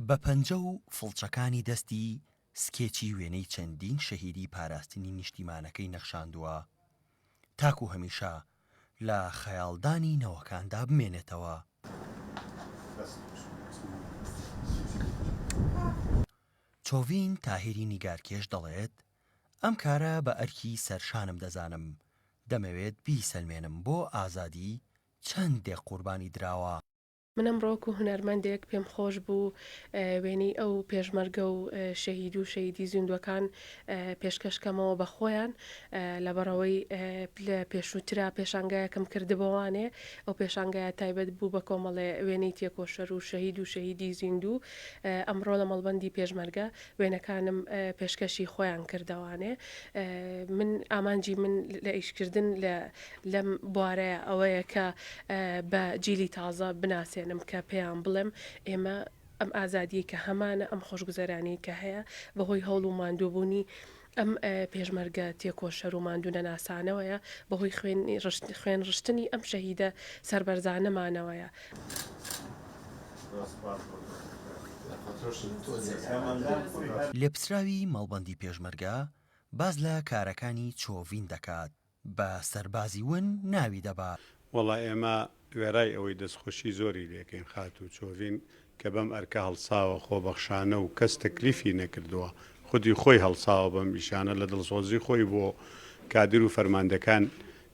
بە پەنجە و فڵچەکانی دەستی سکێچی وێنەی چەندین شەهیدی پاراستنی نیشتیمانەکەی نەخشاندووە تاکو هەمیشە لە خەیاڵدانی نەوەکاندا بمێنێتەوە. چۆڤین تاهیری نیگارکێش دەڵێت، ئەم کارە بە ئەرکی سەرشانم دەزانم، دەمەوێت بیسەلمێنم بۆ ئازادی چەند دێ قوربانی دراوە. من ئەمڕۆ وەکو هونەرمەندێک پێم خۆش بوو وێنەی ئەو پێشمەرگە و شەهید و شەهیدی زیندووەکان پێشکەش کەمەوە بە خۆیان لەبەڕەوەی لە پێشووترا پێشانگایەکم کردبۆوانێ ئەو پێشانگایە تایبەت بوو بە کۆمەڵێ وێنەی تێکۆشەر و شەهید و شەهیدی زیندوو ئەمڕۆ لە مەڵبەندی پێشمەرگە وێنەکانم پێشکەشی خۆیان کردەوانێ من ئامانجی من لە ئیشکردن لەم بوارەیە ئەوەیە کە بە جیلی تازە بناسێنم کە پێیان بڵێم ئێمە ئەم ئازادیە کە هەمانە ئەم خۆشگوزەرانی کە هەیە بەهۆی هەوڵ و ماندووبوونی ئەم پێشمەرگە تێکۆشەر و ماندوونەناسانەوەیە، بەهۆی خوێن ڕشتنی ئەم شەهیدە سەربەرزانەمانەوەیە. لێپرسراوی مەڵبەندی پێشمەرگە باس لە کارەکانی چۆڤین دەکات، بە سەربازی ون ناوی دەبا. وەڵا ئێمە وێڕای ئەوەی دەستخۆشی زۆری لێکەین خاتوو چۆڤین کە بەم ئەرکە هەڵساوە خۆبەخشانە و کەس تەکلیفی نەکردووە خودی خۆی هەڵساوە بەم ئیشانە لە دڵسۆزی خۆی بۆ کادر و فەرماندەکان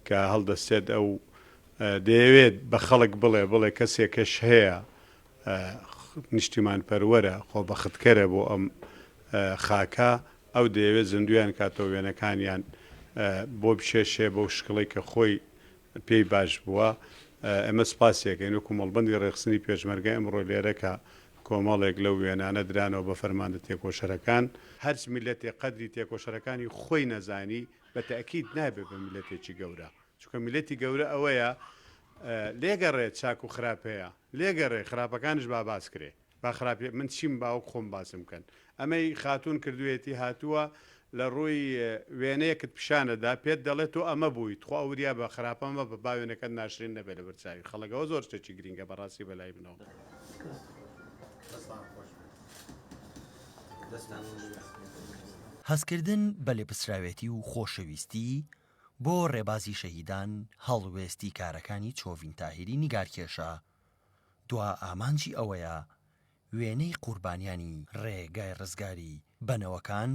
کە هەڵدەستێت ئەو دەیەوێت بە خەڵک بڵێ بڵێ کەسێکش هەیە نیشتیمانپەروەرە، خۆبەختکەرە بۆ ئەم خاکە، ئەو دەیەوێت زیندوویان کاتەوە، وێنەکانیان بۆ بکێشێ بەو شکڵەی کە خۆی پێی باش بووە. ئێمە سپاسی ئەکەین وەکو مەڵبەندی ڕێکخستنی پێشمەرگە ئەمڕۆ لێرە کە کۆمەڵێک لەو وێنانە درانەوە بە فەرماندە تێکۆشەرەکان. هەرچ میللەتێک قەدری تێکۆشەرەکانی خۆی نەزانی بە تەئکید نابێت بە میللەتێکی گەورە، چونکە میللەتی گەورە ئەوەیە لێگەڕێت چاک و خراپ هەیە، لێ گەڕێ خراپەکانش با باس کرێ با خراپی من چیم باوک خۆم باسم کەن ئەمەی خاتوون کردویەتی هاتووە لە ڕووی وێنەیەکت پیشانت دا پێت دەڵێ تۆ ئەمە بووی تخوا وریا بە خراپە مەبە با وێنەکەت ناشرین نەبێ لەبەر چاوی خەڵک ئەوە زۆر شتێکی گرینگە بەڕاستی بەلای منەوە. هەستکردن بە لێپرسراوێتی و خۆشەویستی، بۆ ڕێبازی شەهیدان هەڵوێستی کارەکانی چۆڤین تاهیری نیگارکێشە، دوا ئامانجی ئەوەیە وێنەی قوربانیانی ڕێگای ڕزگاری بە نەوەکان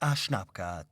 ئاشنا بکات.